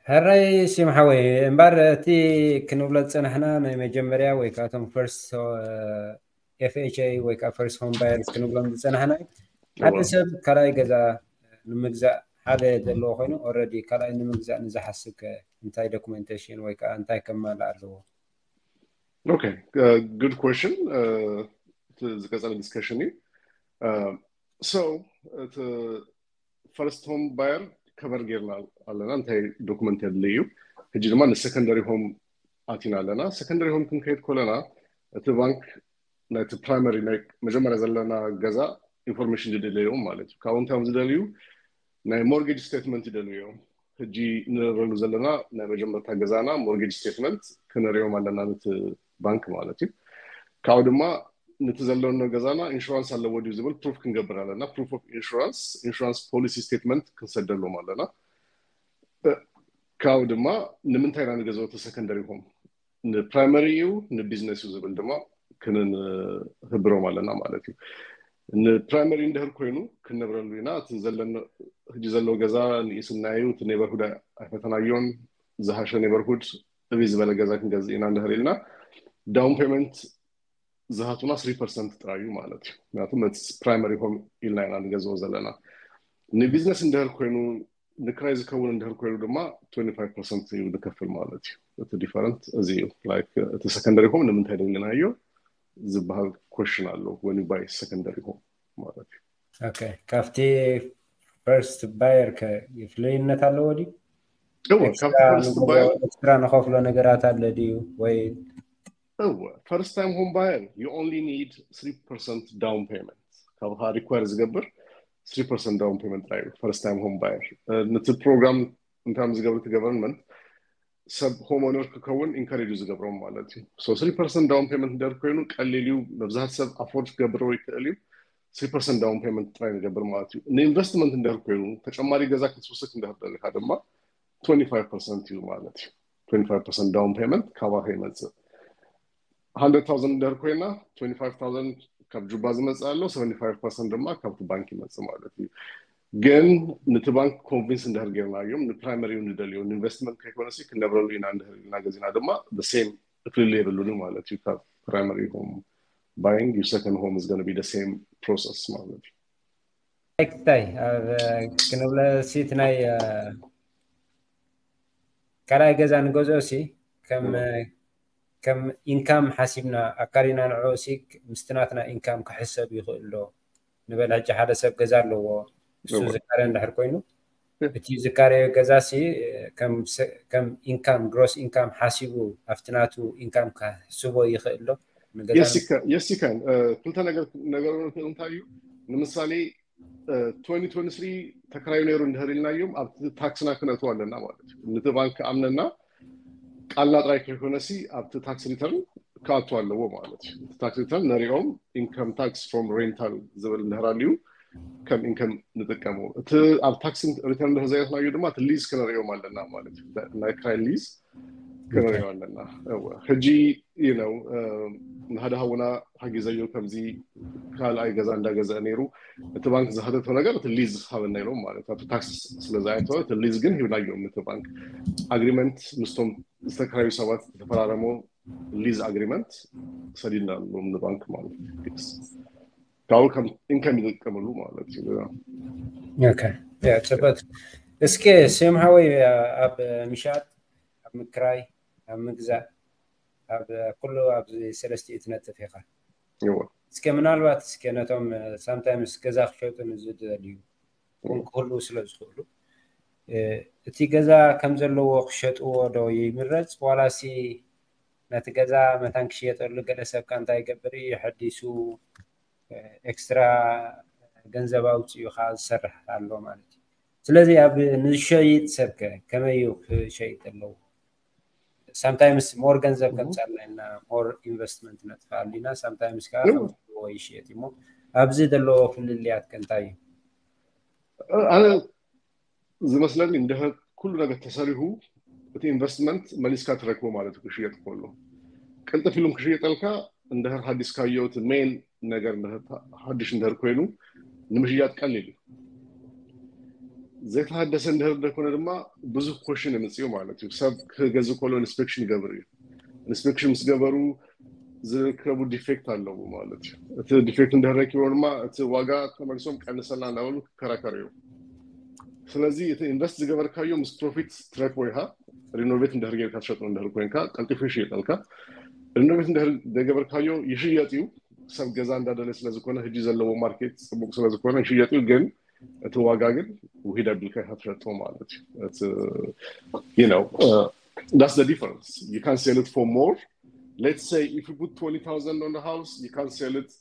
ሕራይ ሲም ሓወይ እምበር እቲ ክንብሎ ዝፀናሕና ናይ መጀመርያ ወይ ከዓ እቶም ፈርስት ኤፍኤችኤ ወይ ከዓ ፈርስት ሆም ባየርስ ክንብሎም ዝፀናሕና ሓደ ሰብ ካልኣይ ገዛ ንምግዛእ ሓደ ዘለዎ ኮይኑ ኦልሬዲ ካልኣይ ንምግዛእ ንዝሓስብ ከ እንታይ ዶክመንቴሽን ወይ ከዓ እንታይ ከማልእ ኣለዎ ኦኬ ጉድ ኮሽን ዝቀፀለ ዲስከሽን እዩ ሶ ፈርስት ሆም ባየር ከበር ጌርና ኣለና እንታይ ዶክመንት የድሊ እዩ ሕጂ ድማ ንሰከንደሪ ሆም ኣቲና ኣለና ሰከንደሪ ሆም ክንከይድ ኮለና እቲ ባንክ ናይቲ ፕራይመሪ ናይ መጀመርያ ዘለና ገዛ ኢንፎርሜሽን ዝደለዮም ማለት እዩ ካብኡ እንታይ እዮም ዝደልዩ ናይ ሞርጌጅ ስቴትመንት ይደልዩ እዮም ሕጂ ንረሉ ዘለና ናይ መጀመርታ ገዛና ሞርጌጅ ስቴትመንት ክንሪኦም ኣለና ንቲ ባንክ ማለት እዩ ካብኡ ድማ ነቲ ዘለኖ ገዛና ኢንሹራንስ ኣለዎ ድዩ ዝብል ፕሩፍ ክንገብር ኣለና ፕሩፍ ኦፍ ኢንሹራንስ ኢንሹራንስ ፖሊሲ ስቴትመንት ክንሰደሎም ኣለና ካብኡ ድማ ንምንታይ ኢና ንገዛውቲ ሰከንደሪ ሆም ንፕራይመሪ እዩ ንቢዝነስ እዩ ዝብል ድማ ክንህብሮም ኣለና ማለት እዩ ንፕራይመሪ እንድህር ኮይኑ ክንነብረሉ ኢና እቲ ዘለኖ ሕጂ ዘለዎ ገዛ ንኢስናዩ እቲ ኔበርሁድ ኣይፈተናዮን ዝሃሸ ኔበርሁድ ዕብይ ዝበለ ገዛ ክንገዝእ ኢና እንድሕር ኢልና ዳውን ፔመንት ዝሃቱና ስሪ ፐርሰንት ጥራይ እዩ ማለት እዩ ምክንያቱ ነቲ ፕራይመሪ ሆም ኢልና ኢና ንገዝኦ ዘለና ንቢዝነስ እንድሕር ኮይኑ ንክራይ ዝከውን እንድሕር ኮይኑ ድማ 25 ፐርሰንት እዩ ንከፍል ማለት እዩ እቲ ዲፈረንት እዚ እዩ እቲ ሰከንደሪ ሆም ንምንታይ ደሊናዮ ዝበሃል ኮሽን ኣሎ ወን ባይ ሰከንደሪ ሆም ማለት እዩ ካብቲ ፈርስት ባየር ከ ይፍለይነት ኣለዎ ድዩ ኤክስትራ ንኸፍሎ ነገራት ኣለ ድዩ ወይ እወ ፈርስት ታይም ሆም ባየር ዩ ኦንሊ ኒድ 3 ፐርሰንት ዳውን ፔመንት ካብኻ ሪኳር ዝገብር 3 ፐርሰንት ዳውን ፔመንት ጥራይ ፈርስት ታይም ሆም ባየር ነቲ ፕሮግራም እንታይ ዝገብር እቲ ገቨርንመንት ሰብ ሆም ኦነር ክከውን ኢንካሬጅ ዝገብሮም ማለት እዩ ሶ 3 ፐርሰንት ዳውን ፔመንት ደር ኮይኑ ቀሊል እዩ መብዛሕት ሰብ ኣፎርድ ክገብሮ ይክእል እዩ ስሪ ፐርሰንት ዳውን ፔመንት ጥራይ ንገብር ማለት እዩ ንኢንቨስትመንት እንድህር ኮይኑ ተጨማሪ ገዛ ክትውስክ እንድህር ደሊካ ድማ 25 ፐርሰንት እዩ ማለት እዩ 25 ፐርሰንት ዳውን ፔመንት ካባኸ ይመፅእ 100,000 እንድህር ኮይና 25,000 ካብ ጁባ ዝመፅእ ኣሎ 75 ፐርሰንት ድማ ካብቲ ባንክ ይመፅእ ማለት እዩ ግን ነቲ ባንክ ኮንቪንስ እንድህር ጌርናዮም ንፕራይመሪ እዩ ንደልዮ ንኢንቨስትመንት ከይኮነሲ ክንነብረሉ ኢና እንድህር ኢልና ገዚና ድማ ሴም ፍልልይ የብሉን ማለት እዩ ካብ ፕራይመሪ ሆም ባይንግ ዩ ሰከንድ ሆም ኢዝ ጎነ ቢ ዘ ሰም ፕሮሰስ ማለት እዩ ኣይክታይ ክንብለ ሲት ናይ ካልኣይ ገዛ ንገዝኦ ሲ ከም ኢንካም ሓሲብና ኣካሪና ንዕኡ ሲ ምስቲ ናትና ኢንካም ክሕሰብ ይኽእል ዶ ንበል ሕጂ ሓደ ሰብ ገዛ ኣለዎ ንሱ ዝካረ እንድሕር ኮይኑ እቲ ዝካረዮ ገዛ ሲ ከም ኢንካም ግሮስ ኢንካም ሓሲቡ ኣብቲ ናቱ ኢንካም ክሕስቦ ይኽእል ዶ? የሲካን ክልተ ነገር ነገር ንክእል እንታይ እዩ ንምሳሌ 2023 ተከራዩ ነይሩ እንድህር ኢልናዮም ኣብቲ ታክስና ክነእትዎ ኣለና ማለት እዩ ንቲ ባንክ ኣምነና ቃልና ጥራይ ከይኮነሲ ኣብቲ ታክስ ሪተርን ክኣቱ ኣለዎ ማለት እዩ እቲ ታክስ ሪተርን ነሪኦም ኢንከም ታክስ ፍሮም ሬንታል ዝብል እንድሕር ኣልዩ ከም ኢንከም ንጥቀሙ እቲ ኣብ ታክስ ሪተርን ድሕር ዘየትናዩ ድማ እቲ ሊዝ ክነሪኦም ኣለና ማለት እዩ ናይ ክራይ ሊዝ ክነሪኦ ኣለና ሕጂ እዩ ነው ንሃደ ሃውና ሓጊዘዮ ከምዚ ካልኣይ ገዛ እንዳገዘአ ነይሩ እቲ ባንክ ዝሃተቶ ነገር እቲ ሊዝ ሃበና ኢሎም ማለት ኣብቲ ታክስ ስለዝኣየተወ እቲ ሊዝ ግን ሂብናዮም እቲ ባንክ ኣግሪመንት ምስቶም ዝተከራዩ ሰባት ዝተፈራረሞ ሊዝ ኣግሪመንት ሰዲድና ኣለዎም ንባንክ ማለት ካብኡ ከም ኢንከም ይጥቀምሉ ማለት እዩ ፅበት እስኪ ስም ሃወይ ኣብ ምሻጥ ኣብ ምክራይ ኣብ ምግዛእ ኣብ ኩሉ ኣብዚ ሰለስቲኡ ትነጥፍ ኢኻ እወ እስከ ምናልባት እስከ ነቶም ሳምታይምስ ገዛ ክሸጡ ንዝደልዩ እውን ክህልዉ ስለ ዝኽእሉ እቲ ገዛ ከም ዘለዎ ክሸጥዎ ዶ ይምረጽ ዋላሲ ነቲ ገዛ መታን ክሽየጠሉ ገለ ሰብካ እንታይ ይገብር እዩ የሐዲሱ ኤክስትራ ገንዘብ ኣውጺኡኻ ዝሰርሕ ኣሎ ማለት እዩ ስለዚ ኣብ ንሸይጥ ሰብ ከ ከመይ እዩ ክሸይጥ ኣለዎ? ሳምታይምስ ሞር ገንዘብ ከምፃልና ኢና ሞር ኢንቨስትመንት ነጥፍኣሉ ኢና ሳምታይምስ ከዓ ከምዝዎ ይሽየጥ እዩ እሞ ኣብዚ ዘለዎ ፍልልያት ከ እንታይ እዩ? ኣነ ዝመስለኒ እንድሕር ኩሉ ነገር ተሰሪሁ እቲ ኢንቨስትመንት መሊስካ ትረክቦ ማለት እዩ ክሽየጥ ከሎ ቅልጥፍ ኢሉ ክሽየጠልካ እንድሕር ሃዲስካዮ እቲ ሜን ነገር ሓዱሽ እንድህር ኮይኑ ንምሽያጥ ቀሊል እዩ ዘይተሃደሰ እንድህር ደኮነ ድማ ብዙሕ ኮሽን የምፅኡ ማለት እዩ ሰብ ክገዝ ከሎ ኢንስፔክሽን ይገብር እዩ ኢንስፔክሽን ምስ ገበሩ ዝርከቡ ዲፌክት ኣለዎ ማለት እዩ እቲ ዲፌክት እንድህር ረኪቦ ድማ እቲ ዋጋ ተመልሶም ቀንሰልና እንዳበሉ ክከራከሩ እዮም ስለዚ እቲ ኢንቨስት ዝገበርካዮ ምስ ፕሮፊት ትረክቦ ኢኻ ሪኖቬት እንድህር ጌርካ ትሸጦ እንድህር ኮይንካ ቀልጢፉ ይሽየጠልካ ርኖቤት እንድሕር ዘይገበርካዮ ይሽየጥ እዩ ሰብ ገዛ እንዳደለ ስለዝኮነ ህጂ ዘለዎ ማርኬት ፅቡቅ ስለዝኮነ ይሽየጥ እዩ ግን እቲ ዋጋ ግን ውሂድ ኣቢልካ ኢካ ትሸጦ ማለት እዩ ነው ዳስ ደ ዲፈረንስ ዩ ካን ሴል ኢት ፎር ሞር ሌትስ ሰይ ኢፍ ዩ ፑት 20000 ኦን ሃውስ ዩ ካን ሴል ኢት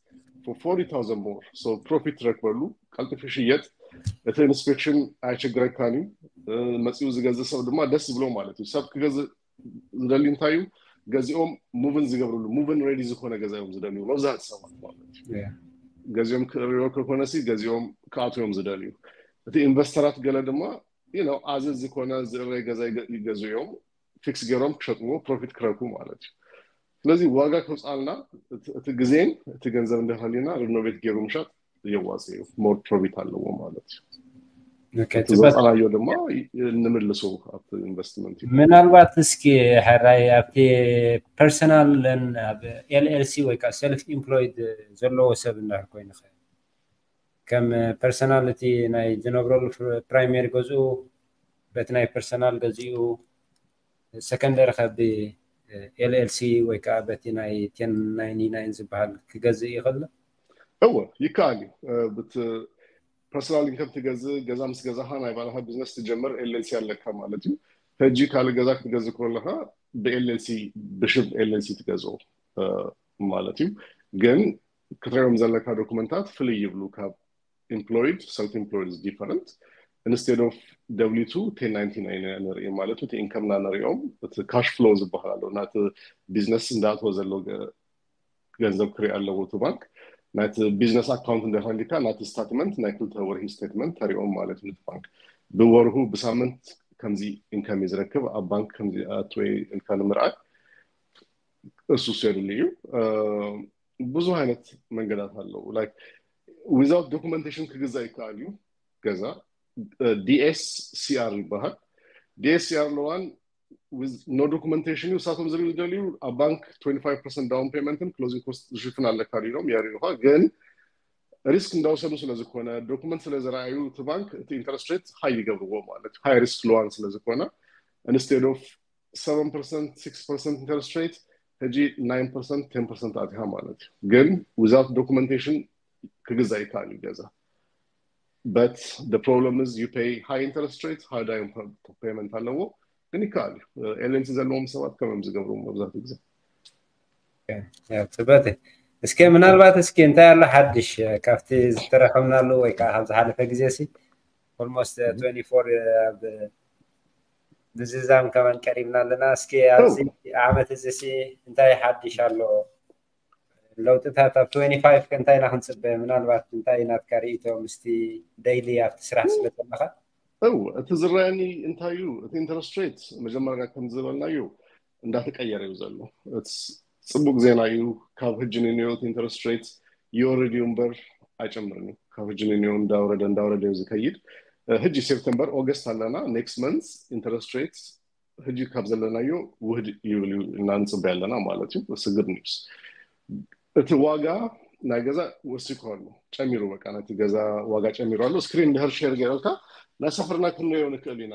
ፎር 40000 ሞር ሶ ፕሮፊት ትረክበሉ ቀልጥፍ ይሽየጥ እቲ ኢንስፔክሽን ኣይቸግረካን እዩ መፂኡ ዝገዝእ ሰብ ድማ ደስ ይብሎ ማለት እዩ ሰብ ክገዝእ ዝደልዩ እንታይ እዩ ገዚኦም ሙቭን ዝገብርሉ ሙቭን ሬዲ ዝኾነ ገዛ እዮም ዝደልዩ መብዛሕቲ ሰባት ማለት እዩ ገዚኦም ክእርዮ ከኮነሲ ገዚኦም ክኣትው እዮም ዝደልዩ እቲ ኢንቨስተራት ገለ ድማ ነው ኣዚ ዝኾነ ዝእረይ ገዛ ይገዙ እዮም ፊክስ ገይሮም ክሸጥዎ ፕሮፊት ክረኩ ማለት እዩ ስለዚ ዋጋ ከውፃልና እቲ ግዜን እቲ ገንዘብ እንደሃሊና ሪኖቬት ገይሩ ምሻጥ የዋፅእ እዩ ሞር ፕሮፊት ኣለዎ ማለት እዩ እቲ ጽበት ዘውፃናዮ ድማ ንምልሶ ኣብቲ ኢንቨስትመንት እዩ ምናልባት እስኪ ሕራይ ኣብቲ ፐርሰናል ኣብ ኤልኤልሲ ወይ ከዓ ሰልፍ ኢምፕሎይድ ዘለዎ ሰብ እንድሕር ኮይኑ ኸ ከም ፐርሰናል እቲ ናይ ዝነብረሉ ፕራይሜሪ ገዝኡ በቲ ናይ ፐርሰናል ገዚኡ ሰከንደሪ ከ ብ LLC ወይ ከኣ በቲ ናይ ቴን ናይኒ ናይን ዝብሃል ክገዝእ ይኽል? እወ ይከኣል እዩ ብት ፐርሰናል ኢንከም ትገዝእ ገዛ ምስ ገዛኻ ናይ ባዕልኻ ቢዝነስ ትጀምር LLC ኣለካ ማለት እዩ ህጂ ካልእ ገዛ ክትገዝእ ኮለኻ ብ LLC ብሽም LLC ትገዝኦ ማለት እዩ ግን ክትሪኦም ዘለካ ዶኩመንታት ፍልይ ይብሉ ካብ ኢምፕሎይድ ሰልፍ ኢምፕሎይድ ኢዝ ዲፈረንት ኢንስቴድ ኦፍ ደብሊው ቱ ቴን ናይንቲ ናይን ኢና ንርኢ ማለት እቲ ኢንከምና ንሪኦም እቲ ካሽ ፍሎ ዝበሃል ኣሎ ናቲ ቢዝነስ እንዳእትዎ ዘሎ ገንዘብ ክርኢ ኣለዎ እቲ ባንክ ናቲ ቢዝነስ ኣካውንት እንዳሃሊካ ናቲ ስታትመንት ናይ ክልተ ወርሂ ስቴትመንት ተሪኦም ማለት እዩ ነቲ ባንክ ብወርሁ ብሳምንት ከምዚ ኢንከም እዩ ዝረክብ ኣብ ባንክ ከምዚ ኣትወ ኢልካ ንምርኣይ እሱ ሴድሉ እዩ ብዙ ዓይነት መንገዳት ኣለዉ ዊዛውት ዶክመንቴሽን ክግዛእ ይከኣል እዩ ገዛ ዲኤስ ሲኣር ይበሃል ዲኤስ ሲኣር ለዋን ኖ ዶክመንቴሽን እዩ እሳቶም ዝብል ዝደልዩ ኣብ ባንክ 25 ፐርሰንት ዳውን ፔመንትን ክሎዚንግ ኮስት ዝሽፍን ኣለካ ዲሎም የርእዩኻ ግን ሪስክ እንዳውሰዱ ስለዝኮነ ዶክመንት ስለዝረኣዩ እቲ ባንክ እቲ ኢንተረስት ሬት ሃይ ይገብርዎ ማለት ሃይ ሪስክ ለዋን ስለዝኮነ ኢንስቴድ ኦፍ ሰቨን ፐርሰንት ሲክስ ፐርሰንት ኢንተረስት ሬት ሕጂ ናይን ፐርሰንት ቴን ፐርሰንት ኣትሃ ማለት እዩ ግን ዊዛውት ዶኩመንቴሽን ክግዛ ይከኣል እዩ ገዛ በት ፕሮብለም ዝ ዩ ፔይ ሃይ ኢንተረስት ሬት ሃይ ዳይ ፔመንት ኣለዎ ግን ይከኣል እዩ ኤልንቲ ዘለዎም ሰባት ከምም ዝገብሩ መብዛሕትኡ ግዜ ፅበት እስከ ምናልባት እስኪ እንታይ ኣሎ ሓድሽ ካብቲ ዝተረከብናሉ ወይ ከዓ ካብ ዝሓለፈ ግዜ ሲ ኦልሞስት 24 ኣብ ምዝዛም ከማን ቀሪብና ኣለና። እስኪ ኣብዚ ዓመት እዚ ሲ እንታይ ሓድሽ ኣሎ? ለውጥታት ኣብ 25 ከ እንታይ ኢና ክንፅበ? ምናልባት እንታይ ናትካ ርእይቶ ምስቲ ደይሊ ኣብቲ ስራሕ ስለ ዘለኻ? እው እቲ ዝረኣየኒ እንታይ እዩ እቲ ኢንተረስት ሬት መጀመርያ ከም ዝበልናዮ እንዳተቀየረ እዩ ዘሎ ፅቡቅ ዜና እዩ ካብ ህጂ ንንዮት ኢንተረስት ሬት ይወርድ እዩ እምበር ኣይጨምርን እዩ ካብ ህጂ ንንዮ እንዳወረደ እንዳወረደ እዩ ዝከይድ ህጂ ሴፕተምበር ኦገስት ኣለና ኔክስት መንስ ኢንተረስት ሬት ህጂ ካብ ዘለናዮ ውህድ ይብል እዩ እና ንፅበ ኣለና ማለት እዩ ስግድ ኒውስ እቲ ዋጋ ናይ ገዛ ወሲኮ ኣሎ ጨሚሩ በቃ ነቲ ገዛ ዋጋ ጨሚሩ ኣሎ ስክሪን ድሕር ሸር ገይረልካ ናይ ሰፈርና ክንሪኦ ንክእል ኢና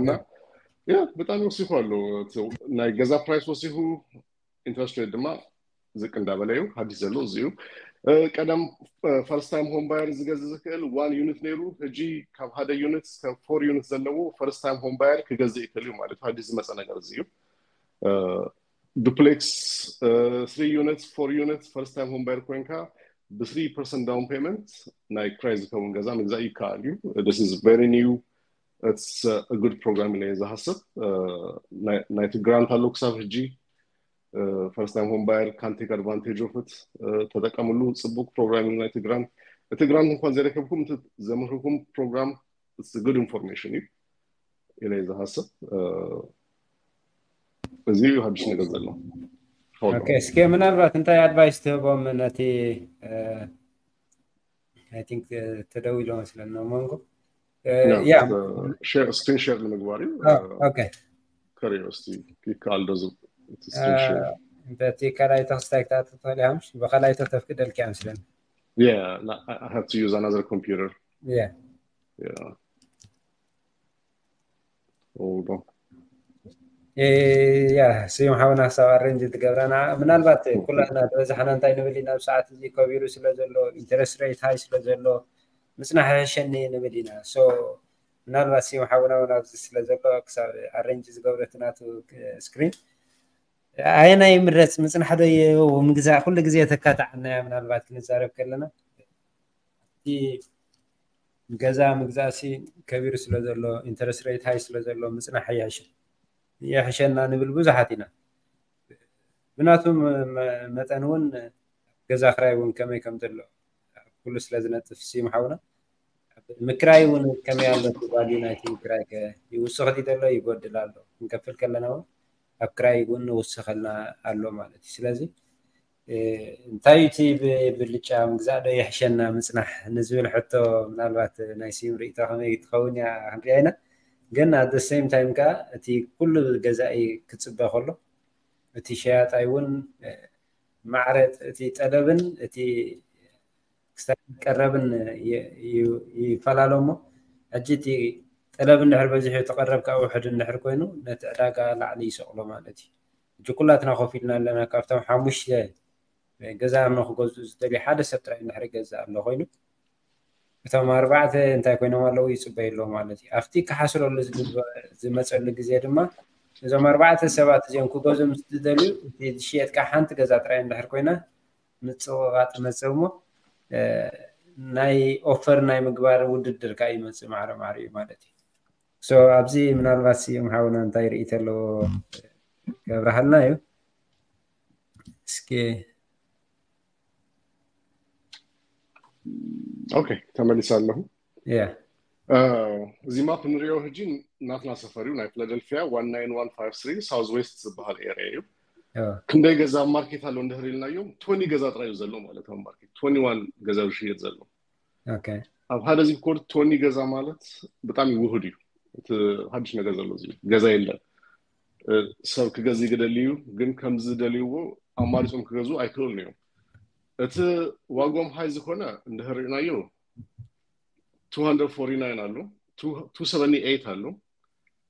እና ያ ብጣዕሚ ወሲኹ ኣሎ ናይ ገዛ ፕራይስ ወሲኹ ኢንትረስት ሬት ድማ ዝቅ እንዳበለ እዩ ሓዲስ ዘሎ እዚ እዩ ቀደም ፈርስት ታይም ሆም ባየር ዝገዝ ዝክእል ዋን ዩኒት ነይሩ ሕጂ ካብ ሓደ ዩኒት እስከ ፎር ዩኒት ዘለዎ ፈርስት ታይም ሆም ባየር ክገዝእ ይክእል እዩ ማለት ሓዲስ ዝመፀ ነገር እዚ እዩ ዱፕሌክስ ስሪ ዩኒት ፎር ዩኒት ፈርስት ታይም ሆም ባየር ኮይንካ ብስሪ ፐርሰንት ዳውን ፔመንት ናይ ክራይ ዝከውን ገዛ ምግዛእ ይከኣል እዩ ስ ቨሪ ኒው ኢትስ አ ጉድ ፕሮግራም ኢለ እየ ዝሃስብ ናይቲ ግራንት ኣሎ ክሳብ ሕጂ ፈርስት ታይም ሆም ባየር ካን ቴክ ኣድቫንቴጅ ኦፍ ኢት ተጠቀምሉ ፅቡቅ ፕሮግራም እዩ ናይቲ ግራንት እቲ ግራንት እንኳን ዘረከብኩም እቲ ዘምህርኩም ፕሮግራም ኢትስ አ ጉድ ኢንፎርሜሽን እዩ ኢለ እየ ዝሃስብ እዚ እዩ ሓድሽ ነገር ዘሎ ኦኬ እስኪ ምናልባት እንታይ ኣድቫይስ ትህቦም ነቲ ኣይ ቲንክ ተደዊሎ መስለኒ ሞንጎ ስክሪን ሸር ንምግባር እዩ ከሪኦ እስቲ ይከኣል ዶ እቲ ስክሪን ሸር እንተ እቲ ካልኣይ ተክስታይ ክትኣቱ ትኽእል ኢኻ ምሽ ብካልኣይ ተተፍቅደልካ እዮም ስለ Yeah, I have to use another computer. Yeah. Yeah. ይብሎ። ያ ስዩም ሓውና ክሳብ ኣረንጅ ትገብራ ንዓ ምናልባት ኩላትና ዝበዛሕና እንታይ ንብል ኢና ኣብ ሰዓት እዚ ከቢሩ ስለ ዘሎ ኢንተረስት ሬት ሃይ ስለ ዘሎ ምፅናሕ ይሕሸኒ ንብል ኢና ሶ ምናልባት ስዩም ሓውና እውን ኣብዚ ስለ ዘሎ ክሳብ ኣረንጅ ዝገብሮ እቲ ናቱ ስክሪን ኣየናይ ይምረፅ ምፅናሕ ዶ ምግዛእ ኩሉ ግዜ ተካታዕናያ ምናልባት ክንዛረብ ከለና እቲ ገዛ ምግዛእ ሲ ከቢሩ ስለ ዘሎ ኢንተረስት ሬት ሃይ ስለ ዘሎ ምፅናሕ ይሓይሽ ይሕሸና ንብል ብዙሓት ኢና ብናቱ መጠን እውን ገዛ ክራይ እውን ከመይ ከም ዘሎ ኩሉ ስለ ዝነጥፍ ስዩም ሓውና ምክራይ እውን ከመይ ኣሎ ትባል ናይቲ ምክራይ ከ ይውስኽ ድዩ ዘሎ ይጎድል ኣሎ ክንከፍል ከለና እውን ኣብ ክራይ እውን ንውስኸልና ኣሎ ማለት እዩ ስለዚ እንታይ እዩ እቲ ብልጫ ምግዛእ ዶ የሕሸና ምጽናሕ ንዝብል ሕቶ ምናልባት ናይ ስዩም ርእይቶ ከመይ ትኸውን እያ ክንሪኣ ኢና ግን ኣት ዘ ሰይም ታይም ከኣ እቲ ኩሉ ገዛኢ ክጽበ ከሎ እቲ ሸያጣይ እውን ማዕረ እቲ ጠለብን እቲ ክሳብ ቀረብን ይፈላለ እሞ ሕጂ እቲ ጠለብ እንድሕር በዚሑ እቲ ቀረብ ከዓ ውሕድ እንድሕር ኮይኑ ነቲ ዕዳጋ ላዕሊ ይሰቕሎ ማለት እዩ ሕጂ ኩላትና ኮፍ ኢልና ኣለና ካብቶም ሓሙሽተ ገዛ ኣምኖ ክገዝኡ ዝደልዩ ሓደ ሰብ ጥራይ እንድሕር ይገዝእ ኣሎ ኮይኑ እቶም ኣርባዕተ እንታይ ኮይኖም ኣለዉ ይፅበዩ ኣለዉ ማለት እዩ ኣብቲ ክሓስረሉ ዝመፀሉ ግዜ ድማ እዞም ኣርባዕተ ሰባት እዚኦም ክገዝኡ ምስ ዝደልዩ እቲ ዝሽየጥካ ሓንቲ ገዛ ጥራይ እንድሕር ኮይና ምፅቕቓጥ መፅእ እሞ ናይ ኦፈር ናይ ምግባር ውድድር ከዓ ይመፅእ ማዕረ ማዕረ እዩ ማለት እዩ So ኣብዚ ምናልባት ስዩም ሓውና እንታይ ርእይቶ ኣለዎ ከብርሃልና እዩ እስኪ ኦኬ ተመሊሰ ኣለኹ ያ እዚ ማፕ ንሪኦ ሕጂ ናትና ሰፈር እዩ ናይ ፊላደልፊያ 19153 ሳውዝ ዌስት ዝበሃል ኤሪያ እዩ ኦ፣ ክንደይ ገዛ ኣብ ማርኬት ኣሎ እንድሕር ኢልናዮም 20 ገዛ ጥራይ እዩ ዘሎ ማለት ኣብ ማርኬት 21 ገዛ እዩ ዝሽየጥ ዘሎ ኣብ ሓደ ዚፕ ኮድ ቶኒ ገዛ ማለት ብጣዕሚ ውህድ እዩ እቲ ሓድሽ ነገር ዘሎ እዚ ገዛ የለን ሰብ ክገዝ ይግደል እዩ ግን ከምዚ ደልይዎ ኣማሪፆም ክገዙ ኣይክእሉን እዮም እቲ ዋጎም ሃይ ዝኾነ እንድሕር ርኢናዮ 249 ኣሎ 278 ኣሎ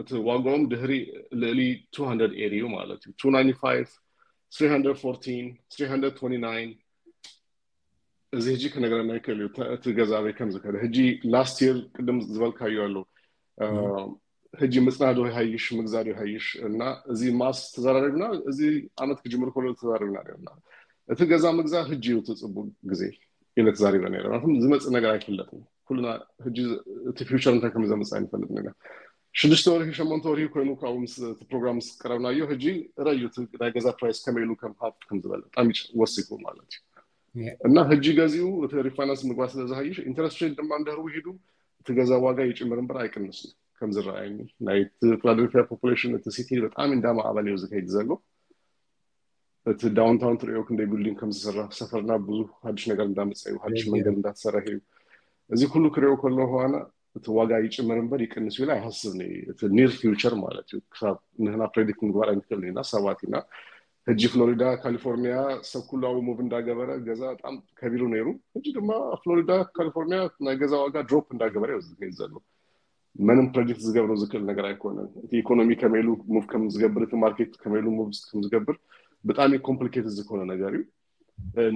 እቲ ዋጋኦም ድህሪ ልእሊ 200 ኤሪ እዩ ማለት እዩ 295 314 329 እዚ ህጂ ክነግረና ይክእል እዩ እቲ ገዛ በይ ከም ዝከደ ህጂ ላስት የር ቅድም ዝበልካዩ ኣሎ ህጂ ምፅናዶ ይሃይሽ ምግዛዶ ይሃይሽ እና እዚ ማስ ተዘራሪብና እዚ ዓመት ክጅምር ከሎ ተዘራሪብና ነርና እቲ ገዛ ምግዛ ህጂ እዩ ትፅቡቅ ግዜ ኢለ ተዛሪበ ነረ ዝመፅእ ነገር ኣይፍለጥን ኩልና ሕጂ እቲ ፊውቸር እንታይ ከም ዘምፅእ ኣይንፈልጥ ኢና ሽዱሽተ ወርሒ ሸሞንተ ወርሒ ኮይኑ ካብኡ ምስ እቲ ፕሮግራም ምስ ቀረብናዮ ሕጂ ረዩ እቲ ናይ ገዛ ፕራይስ ከመይ ኢሉ ከም ሃብ ከም ዝበለ ብጣዕሚ ወሲኹ ማለት እዩ እና ሕጂ ገዚኡ እቲ ሪፋይናንስ ምግባ ስለ ዝሃይሽ ኢንተረስት ሬት ድማ እንድህር ውሒዱ እቲ ገዛ ዋጋ ይጭምር እምበር ኣይቅንስ እዩ ከም ዝረኣየኒ ናይ ፊላደልፊያ ፖፑሌሽን እቲ ሲቲ ብጣዕሚ እንዳማዕበለ እዩ ዝከይድ ዘሎ እቲ ዳውንታውን ትሪኦ ክንደይ ቢልዲንግ ከም ዝስራሕ ሰፈርና ብዙ ሓድሽ ነገር እንዳመፀ እዩ ሓድሽ መንገድ እንዳተሰረሐ እዩ እዚ ኩሉ ክሪኦ ከለኹ ኣነ እቲ ዋጋ ይጭምር እምበር ይቅንስ ኢለ ኣይሃስብን እዩ እቲ ኒር ፊውቸር ማለት እዩ ክሳብ ንህና ፕሬዲክት ምግባር ኣይንክእልን ኢና ሰባት ኢና ሕጂ ፍሎሪዳ ካሊፎርኒያ ሰብ ኩሉ ኣብ ሙቭ እንዳገበረ ገዛ በጣም ከቢሩ ነይሩ ሕጂ ድማ ፍሎሪዳ ካሊፎርኒያ ናይ ገዛ ዋጋ ድሮፕ እንዳገበረ እዩ ዘሎ መንም ፕረዲክት ዝገብሮ ዝክእል ነገር ኣይኮነን እቲ ኢኮኖሚ ከመይ ኢሉ ሙቭ ከም ዝገብር እቲ ማርኬት ከመይ ኢሉ ሙቭ ከም ዝገብር ብጣዕሚ ኮምፕሊኬትድ ዝኮነ ነገር እዩ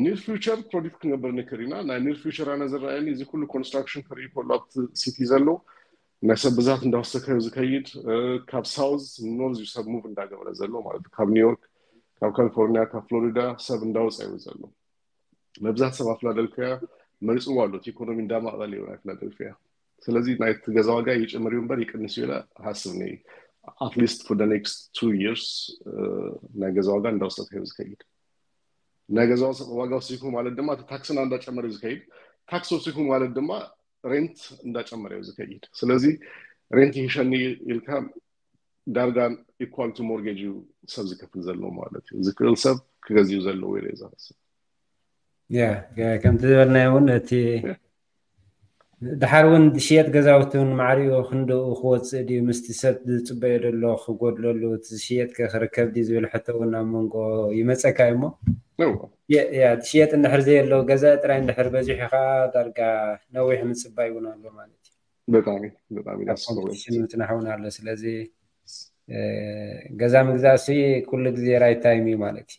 ኒር ፊቸር ፕሮዲክት ክንገብር ንክእል ኢና ናይ ኒር ፊቸር ኣነ ዝረኣየኒ እዚ ኩሉ ኮንስትራክሽን ክርኢ ከሎ ኣብቲ ሲቲ ዘሎ ናይ ሰብ ብዛት እንዳወሰከ ዝከይድ ካብ ሳውዝ ኖርዝ እዩ ሰብ ሙቭ እንዳገበረ ዘሎ ማለት እዩ ካብ ኒውዮርክ ካብ ካሊፎርኒያ ካብ ፍሎሪዳ ሰብ እንዳወፀ እዩ ዘሎ መብዛሕት ሰብ ኣብ ፊላደልፊያ መሪፅዎ ኣሎ እቲ ኢኮኖሚ እንዳማዕበለ እዩ ናይ ፊላደልፊያ ስለዚ ናይቲ ገዛ ዋጋ ይጭምር እዩ እምበር ይቅንስ እዩ ኢለ ሃስብ ነይ ኣትሊስት ፎር ኔክስት ቱ ይርስ ናይ ገዛ ዋጋ እንዳወሰተ እዩ ዝከይድ ናይ ገዛ ዋጋ ወሲኩ ማለት ድማ እቲ ታክስና እንዳጨመረ እዩ ዝከይድ ታክስ ወሲኩ ማለት ድማ ሬንት እንዳጨመረ እዩ ዝከይድ ስለዚ ሬንት ይህሸኒ ኢልካ ዳርጋ ኢኳል ቱ ሞርጌጅ እዩ ሰብ ዝከፍል ዘሎ ማለት እዩ ዝክእል ሰብ ክገዝኡ ዘለዎ ኢለ እዩ ዝሃስብ ከምቲ ዝበልናዮ እውን እቲ ድሓር ውን ዝሽየጥ ገዛውቲ ውን ማዕሪኡ ክንድኡ ክወጽእ ድዩ ምስቲ ሰብ ዝጽበዮ ዘሎ ክጎድለሉ እቲ ዝሽየጥ ከ ክርከብ ድዩ ዝብል ሕቶ ውን ኣብ መንጎ ይመጸካ ዩ እሞ ያ ዝሽየጥ እንድሕር ዘየሎ ገዛኢ ጥራይ እንድሕር በዚሑ ከኣ ዳርጋ ነዊሕ ምጽባይ ውን ኣሎ ማለት ዩ ብጣዕሚ ብጣዕሚ ደስ ዝብል ኮምፕቲሽን ምጽናሕ ውን ኣሎ ስለዚ ገዛ ምግዛእ ሲ ኩሉ ግዜ ራይት ታይም ዩ ማለት ዩ።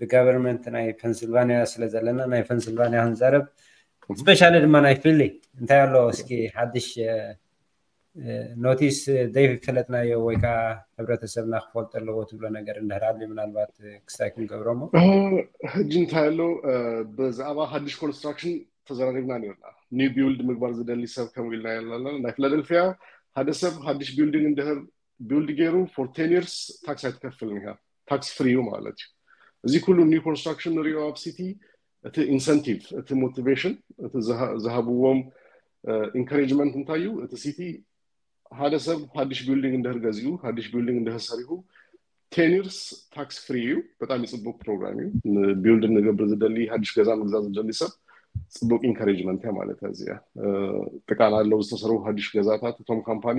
ብጋቨርመንት ናይ ፐንስልቫንያ ስለ ዘለና ናይ ፐንስልቫንያ ክንዛረብ ስፔሻሊ ድማ ናይ ፊሊ እንታይ ኣሎ እስኪ ሓድሽ ኖቲስ ዘይፈለጥናዮ ወይ ከዓ ሕብረተሰብና ክፈልጦ ኣለዎ ትብሎ ነገር እንድሕር ኣሉ ምናልባት ክስታይ ክንገብሮ ሞ ሕጂ እንታይ ኣሎ ብዛዕባ ሓድሽ ኮንስትራክሽን ተዘራሪብና ነርና ኒው ቢውልድ ምግባር ዝደሊ ሰብ ከምኡ ኢልና ኣለና ናይ ፊላደልፊያ ሓደ ሰብ ሓድሽ ቢውልዲንግ እንድሕር ቢውልድ ገይሩ ፎር ቴን ይርስ ታክስ ኣይትከፍልን ኢኻ ታክስ ፍሪ እዩ ማለት እዩ እዚ ኩሉ ኒው ኮንስትራክሽን ንሪኦ ኣብ ሲቲ እቲ ኢንሰንቲቭ እቲ ሞቲቬሽን እቲ ዝሃብዎም ኢንካሬጅመንት እንታይ እዩ እቲ ሲቲ ሓደ ሰብ ሓድሽ ቢልዲንግ እንድህር ገዚኡ ሓድሽ ቢልዲንግ እንድህር ሰሪሁ ቴን ይርስ ታክስ ፍሪ እዩ በጣም ይፅቡቅ ፕሮግራም እዩ ንቢልድ ንገብር ዝደሊ ሓድሽ ገዛ ምግዛ ዝደሊ ሰብ ፅቡቅ ኢንካሬጅመንት እያ ማለት እያ እዚኣ ጥቃና ኣለው ዝተሰርቡ ሓድሽ ገዛታት እቶም ካምፓኒ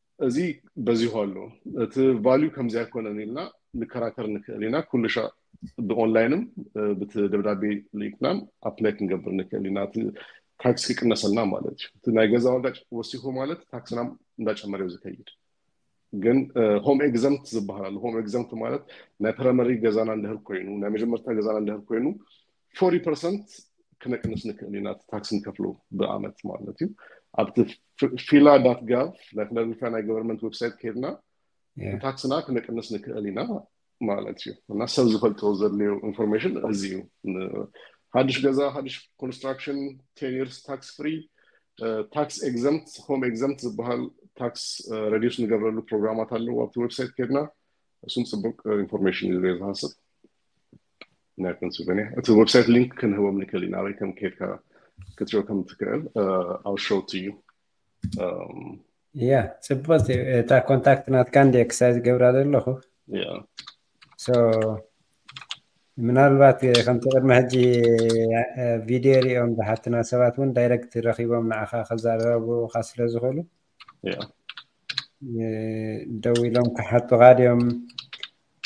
እዚ በዚሑ ኣሎ እቲ ቫልዩ ከምዚ ኣይኮነን ኢልና ንከራከር ንክእል ኢና ኩሉሻዕ ብኦንላይንም ብቲ ደብዳቤ ልኢክናን ኣፕላይ ክንገብር ንክእል ኢና እቲ ታክስ ክቅነሰልና ማለት እዩ እቲ ናይ ገዛ ዋጋ ወሲኹ ማለት ታክስና እንዳጨመረ እዩ ዝከይድ ግን ሆም ኤግዘምት ዝበሃል ኣሎ ሆም ኤግዘምት ማለት ናይ ፕራይመሪ ገዛና እንድህር ኮይኑ ናይ መጀመርታ ገዛና እንድህር ኮይኑ ፎርቲ ፐርሰንት ክነቅንስ ንክእል ኢና እቲ ታክስ ንከፍሎ ብኣመት ማለት እዩ ኣብቲ ፊላ ዳት ጋቭ ናይ ፊላደልፊያ ናይ ገቨርንመንት ዌብሳይት ከይድና ታክስና ክነቅንስ ንክእል ኢና ማለት እዩ እና ሰብ ዝፈልጦ ዘድልዮ ኢንፎርሜሽን እዚ እዩ ሓድሽ ገዛ ሓድሽ ኮንስትራክሽን ቴን ይርስ ታክስ ፍሪ ታክስ ኤግዘምት ሆም ኤግዘምት ዝበሃል ታክስ ረዲስ ንገብረሉ ፕሮግራማት ኣለዎ ኣብቲ ዌብሳይት ከይድና እሱም ፅቡቅ ኢንፎርሜሽን እዩ ዝሃስብ ናይ ፐንስልቨንያ እቲ ዌብሳይት ሊንክ ክንህቦም ንክእል ኢና ኣበይ ከም ከድካ ክትሪኦ ከም ትክእል ኣብ ሸውት እዩ ያ ፅቡቅ እታ ኮንታክት ናትካ እንደ ክሳይ ዝገብራ ዘለኹ ምናልባት ከምቲ ቅድሚ ሕጂ ቪድዮ ሪኦም ዝሓትና ሰባት እውን ዳይረክት ረኪቦም ንዓኻ ክዛረቡካ ስለ ዝኽእሉ ደው ኢሎም ክሓቱኻ ድዮም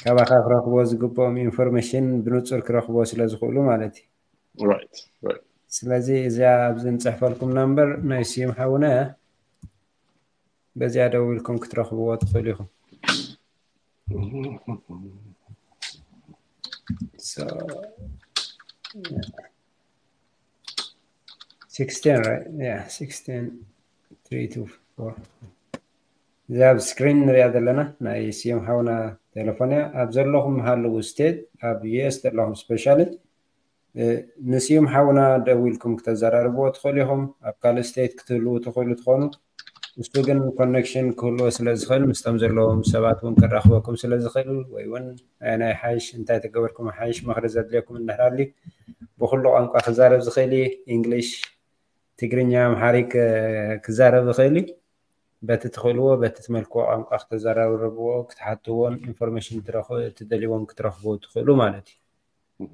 ካባኻ ክረኽቦ ዝግብኦም ኢንፎርሜሽን ብንፁር ክረኽቦ ስለ ዝኽእሉ ማለት እዩ ስለዚ እዚያ ኣብዚ ንፅሕፈልኩም ናምበር ናይ ስዩም ሓውነ እያ በዚኣ ደው ኢልኩም ክትረኽብዎ ትኽእሉ ኢኹም So, yeah. 16 right yeah 16 3 to 4 እዛ ኣብ ስክሪን ንሪኣ ዘለና ናይ ስዮም ሓውና ቴሌፎን እያ ኣብ ዘለኹም ሃለዉ ስቴት ኣብ ዩኤስ ዘለኹም ስፔሻሊ ንስዮም ሓውና ደዊልኩም ክተዘራርብዎ ትኽእሉ ኢኹም ኣብ ካልእ ስቴት ክትህልዉ ትኽእሉ ትኾኑ ንሱ ግን ኮኔክሽን ክህልዎ ስለ ዝኽእል ምስቶም ዘለዎም ሰባት እውን ከራኽበኩም ስለ ዝኽእል ወይ እውን ኣየናይ ሓይሽ እንታይ ተገበርኩም ሓይሽ ምኽሪ ዘድልየኩም እንድሕራሊ ብኩሉ ቋንቋ ክዛረብ ዝኽእል እዩ እንግሊሽ ትግርኛ ኣምሓሪክ ክዛረብ ይኽእል እዩ በቲ ትኽእልዎ በቲ ትመልክዎ ቋንቋ ክተዘራርብዎ ክትሓትዎን ኢንፎርሜሽን ትደልይዎም ክትረኽቡ ትኽእሉ ማለት እዩ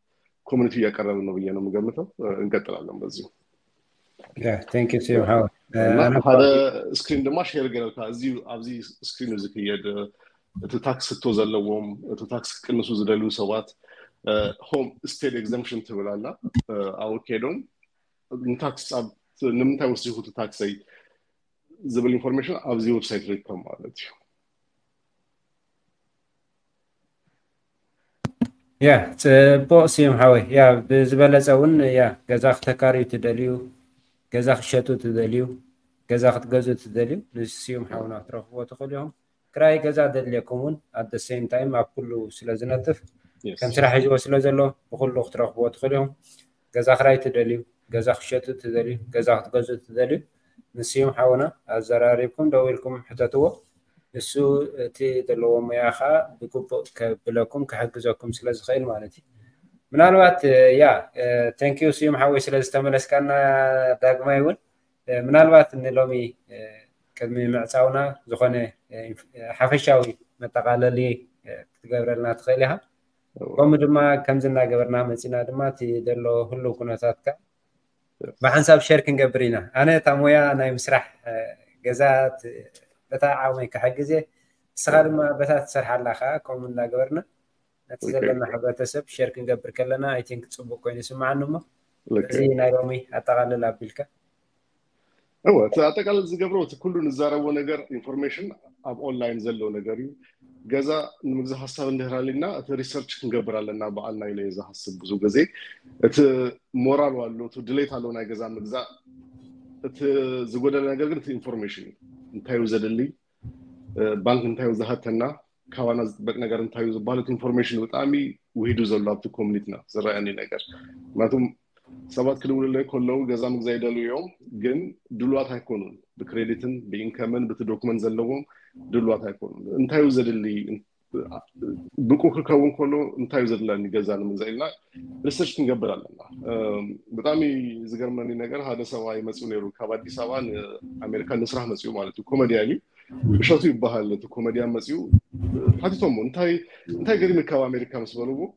ኮሚኒቲ እያቀረብን ነው ብዬ ነው የምገምተው። እንቀጥላለን በዚሁ ሓደ ስክሪን ድማ ሼር ገረልካ እዚ ኣብዚ ስክሪን እዚ ክየድ እቲ ታክስ ህቶ ዘለዎም እቲ ታክስ ክቅንሱ ዝደልዩ ሰባት ሆም ስቴት ኤግዘምፕሽን ትብል ኣላ ኣብኡ ከይዶም ንታክስ ንምንታይ ወሲኹ እቲ ታክሰይ ዝብል ኢንፎርሜሽን ኣብዚ ዌብሳይት ርከብ ማለት እዩ ያ ፅቡቅ ስዩም ሓወይ ያ ብዝበለፀ እውን ያ ገዛ ክተካርዩ ትደልዩ ገዛ ክሸጡ ትደልዩ ገዛ ክትገዙ ትደልዩ ንስዩም ሓውና ክትረክብዎ ትኽእሉ ኢኹም ክራይ ገዛ ዘድልየኩም እውን ኣደ ሴም ታይም ኣብ ኩሉ ስለ ዝነጥፍ ከም ስራሕ ሒዝዎ ስለ ዘሎ ብኩሉ ክትረክብዎ ትኽእሉ ኢኹም ገዛ ክራይ ትደልዩ ገዛ ክትሸጡ ትደልዩ ገዛ ክትገዝኡ ትደልዩ ንስዩም ሓውና ኣዘራሪብኩም ደዊልኩም ሕተትዎ ንሱ እቲ ዘለዎ ሙያ ከኣ ብግቡእ ከብለኩም ክሕግዘኩም ስለ ዝኽእል ማለት እዩ ምናልባት ያ ተንኪዩ ስዩም ሓወይ ስለ ዝተመለስካና ዳግማይ እውን ምናልባት ንሎሚ ቅድሚ ምዕፃውና ዝኾነ ሓፈሻዊ መጠቓለሊ ክትገብረልና ትኽእል ኢኻ ከምኡ ድማ ከምዚ እናገበርና መፂና ድማ እቲ ዘሎ ህሉው ኩነታት ከዓ ብሓንሳብ ሸር ክንገብር ኢና ኣነ እታ ሞያ ናይ ምስራሕ ገዛ በታ ዓቕመይ ክሕግዝ እየ ንስኻ ድማ በታ ትሰርሓላ ከዓ ከምኡ እናገበርና ነቲ ዘለና ሕብረተሰብ ሸር ክንገብር ከለና ኣይቲንክ ፅቡቅ ኮይኑ ይስምዓኒ እሞ እዚ ናይ ሎሚ ኣጠቃልል ኣቢልካ እወ እቲ ኣጠቃላይ ዝገብሮ እቲ ኩሉ ንዛረቦ ነገር ኢንፎርሜሽን ኣብ ኦንላይን ዘሎ ነገር እዩ ገዛ ንምግዛ ሀሳብ እንድህር ኣልና እቲ ሪሰርች ክንገብር ኣለና በዓልና ኢለ ዝሃስብ ብዙ ግዜ እቲ ሞራል ኣሎ እቲ ድሌት ኣሎ ናይ ገዛ ምግዛእ እቲ ዝጎደለ ነገር ግን እቲ ኢንፎርሜሽን እዩ እንታይ እዩ ዘድሊ ባንክ እንታይ እዩ ዝሃተና ካባና ዝጥበቅ ነገር እንታይ እዩ ዝበሃል እቲ ኢንፎርሜሽን ብጣዕሚ ውሂዱ ዘሎ ኣብቲ ኮሚኒቲና ዝረኣየኒ ነገር ምክንያቱም ሰባት ክድውልለይ ከለው ገዛ ምግዛ ይደልዩ እዮም ግን ድልዋት ኣይኮኑን ብክሬዲትን ብኢንከምን ብቲ ዶክመንት ዘለዎም ድልዋት ኣይኮኑን እንታይ እዩ ዘድሊ ብቁ ክከውን ከሎ እንታይ እዩ ዘድለኒ ገዛ ንምግዛእ ኢልና ሪሰርች ክንገብር ኣለና ብጣዕሚ ዝገርመኒ ነገር ሓደ ሰብኣይ መፅኡ ነይሩ ካብ ኣዲስ ኣበባ ንኣሜሪካ ንስራሕ መፅኡ ማለት እዩ ኮመድያን እዩ እሸቱ ይበሃል እቲ ኮመድያን መፅኡ ሓቲቶሞ እንታይ ገሪምካ ኣብ ኣሜሪካ ምስ በልዎ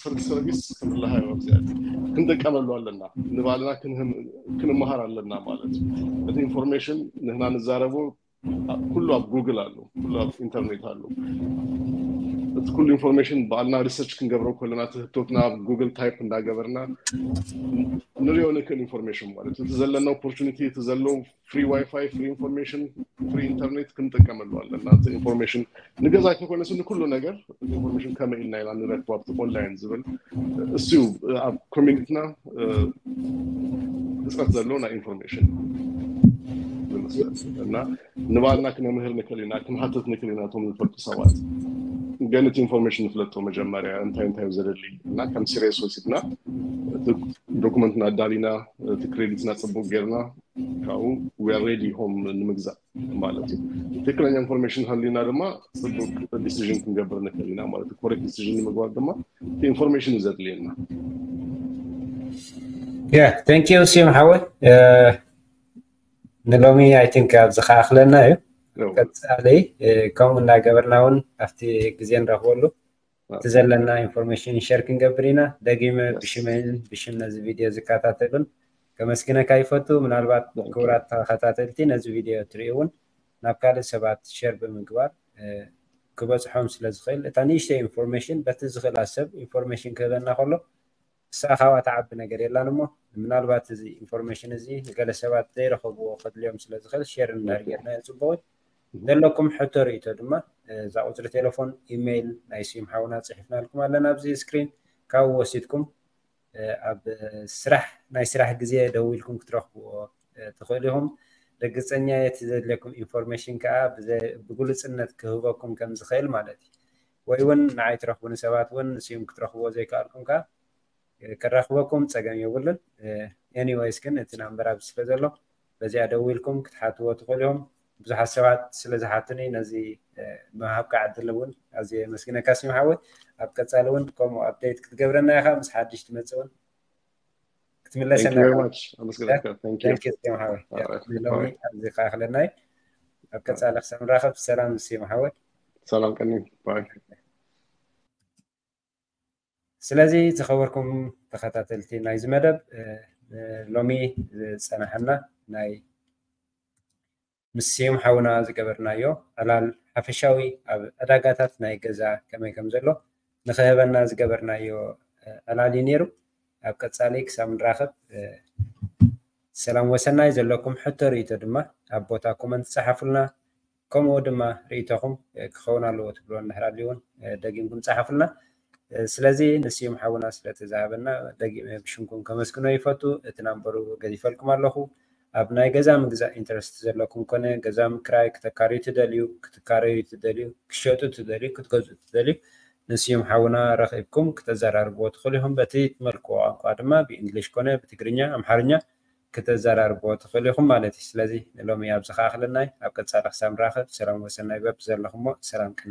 ስር ሰርቪስ ክንላሃዮ ኣብዚኣ ክንደቀመሉ ኣለና ንባዕልና ክንመሃር ኣለና ማለት እቲ ኢንፎርሜሽን ንህና ንዛረቡ ኩሉ ኣብ ጉግል ኣሉ ኩሉ ኣብ ኢንተርኔት ኣሉ እቲ ኩሉ ኢንፎርሜሽን ባዕልና ሪሰርች ክንገብረ ከለና እቲ ህቶትና ኣብ ጉግል ታይፕ እንዳገበርና ንሪኦ ንክእል ኢንፎርሜሽን ማለት እቲ ዘለና ኦፖርቹኒቲ እቲ ዘለው ፍሪ ዋይፋይ ፍሪ ኢንፎርሜሽን ፍሪ ኢንተርኔት ክንጥቀመሉ ኣለና እቲ ኢንፎርሜሽን ንገዛ ተኮነ ስኒ ኩሉ ነገር ኢንፎርሜሽን ከመ ኢልና ኢና ንረክቦ ኣብቲ ኦንላይን ዝብል እስዩ ኣብ ኮሚኒቲና ህፅረት ዘሎ ናይ ኢንፎርሜሽን ዝመስል እና ንባልና ክነምህር ንክእል ኢና ክንሓትት ንክእል ኢና እቶም ዝፈልጡ ሰባት ግን እቲ ኢንፎርሜሽን ንፍለጦ መጀመርያ እንታይ እንታይ ዘደሊ እና ከም ሲሪየስ ወሲድና ዶኩመንትና ኣዳሊና እቲ ክሬዲትና ፅቡቅ ጌርና ካብኡ ዌር ሬዲ ሆም ንምግዛእ ማለት እዩ ትክክለኛ ኢንፎርሜሽን ሃሊና ድማ ፅቡቅ ዲሲዥን ክንገብር ንክእል ኢና ማለት እዩ ኮሬክት ዲሲዥን ንምግባር ድማ ኢንፎርሜሽን እዩ ዘድልየና ያ ታንክ ዩ ስዩም ሓወይ ንሎሚ ኣይ ቲንክ ኣብዚ ከኣክለና እዩ ቀፃሊ ከምኡ እናገበርና እውን ኣብቲ ግዜ ንረክበሉ እቲ ዘለና ኢንፎርሜሽን ሸር ክንገብር ኢና ደጊመ ብሽመይን ብሽም ነዚ ቪድዮ ዝከታተሉን ከመስግነካ ይፈቱ ምናልባት ክቡራት ተኸታተልቲ ነዚ ቪድዮ ትሪኡ እውን ናብ ካልእ ሰባት ሸር ብምግባር ክበፅሖም ስለ ዝኽእል እታ ንእሽተይ ኢንፎርሜሽን በቲ ዝኽእላ ሰብ ኢንፎርሜሽን ክህበና ከሎ ንሳ ካብኣ ትዓቢ ነገር የላን እሞ ምናልባት እዚ ኢንፎርሜሽን እዚ ንገለ ሰባት ዘይረኸብዎ ከድልዮም ስለ ዝኽእል ሼር እንድሕር ጌርናዮ ጽቡቕ እዩ። ዘለኩም ሕቶ ርእይቶ ድማ እዛ ቁጽሪ ቴለፎን ኢመይል ናይ ስዩም ሓውና ጽሒፍናልኩም ኣለና ኣብዚ ስክሪን ካብኡ ወሲድኩም ኣብ ስራሕ ናይ ስራሕ ግዜ ደዊልኩም ክትረኽብዎ ትኽእሉ ኢኹም። ርግጸኛ እየ እቲ ዘድልየኩም ኢንፎርሜሽን ከኣ ብግሉጽነት ክህበኩም ከም ዝኽእል ማለት እዩ። ወይ ውን ንዓይ ትረኽቡኒ ሰባት ውን ንስዩም ክትረኽብዎ ዘይከኣልኩም ከኣ ከራኽበኩም ጸገም የብሉን ኤኒወይስ ግን እቲ ናምበር ኣብዚ ስለ ዘሎ በዚኣ ደዊልኩም ክትሓትዎ ትኽእሉ ኢኹም ብዙሓት ሰባት ስለ ዝሓቱኒ ነዚ ምሃብካ ዕድል ውን ኣዝየ የመስግነካ ስዩም ሓወይ ኣብ ቀጻሊ ውን ከምኡ ኣፕደይት ክትገብረና ኢኻ ምስ ሓድሽ ትመጽእ ውን ክትምለሰ ሎሚ ኣብዚ ከዓ ክለናይ ኣብ ቀፃሊ ክሳብ ንራኸብ ሰላም ምስ የመሓወት ሰላም ቀኒ ስለዚ ዝኸበርኩም ተኸታተልቲ ናይዚ መደብ ሎሚ ዝፀናሓና ናይ ምስ ስዩም ሓውና ዝገበርናዮ ዕላል ሓፈሻዊ ኣብ ዕዳጋታት ናይ ገዛ ከመይ ከም ዘሎ ንኽህበና ዝገበርናዮ ዕላል እዩ ነይሩ። ኣብ ቀጻሊ ክሳብ ንራኸብ ሰላም ወሰናይ ዘለኩም ሕቶ ርእይቶ ድማ ኣብ ቦታ ኮመንት ጸሓፉልና ከምኡ ድማ ርእይቶኹም ክኸውን ኣለዎ ትብልዎ እንድሕር ኣልዩ ውን ደጊምኩም ጸሓፉልና። ስለዚ ንስዩም ሓውና ስለቲ ዝሃበና ደጊመ ብሽምኩም ከመስግኖ ይፈቱ እቲ ናምበሩ ገዲፈልኩም ኣለኹ ኣብ ናይ ገዛ ምግዛእ ኢንተረስት ዘለኩም ኮነ ገዛ ምክራይ ክተካርዩ ትደልዩ ክትካረዩ ትደልዩ ክትሸጡ ትደልዩ ክትገዝኡ ትደልዩ ንስዩም ሓውና ረኺብኩም ክተዘራርብዎ ትኽእሉ ኢኹም በቲ ትመልክዎ ቋንቋ ድማ ብኢንግሊሽ ኮነ ብትግርኛ ኣምሓርኛ ክተዛራርብዎ ትኽእሉ ኢኹም ማለት እዩ። ስለዚ ንሎሚ ኣብዚ ክኣኽለና እዩ። ኣብ ቀጻሊ ክሳብ ንራኸብ ሰላም ወሰናይ በብዘለኹሞ ሰላም ቅነ።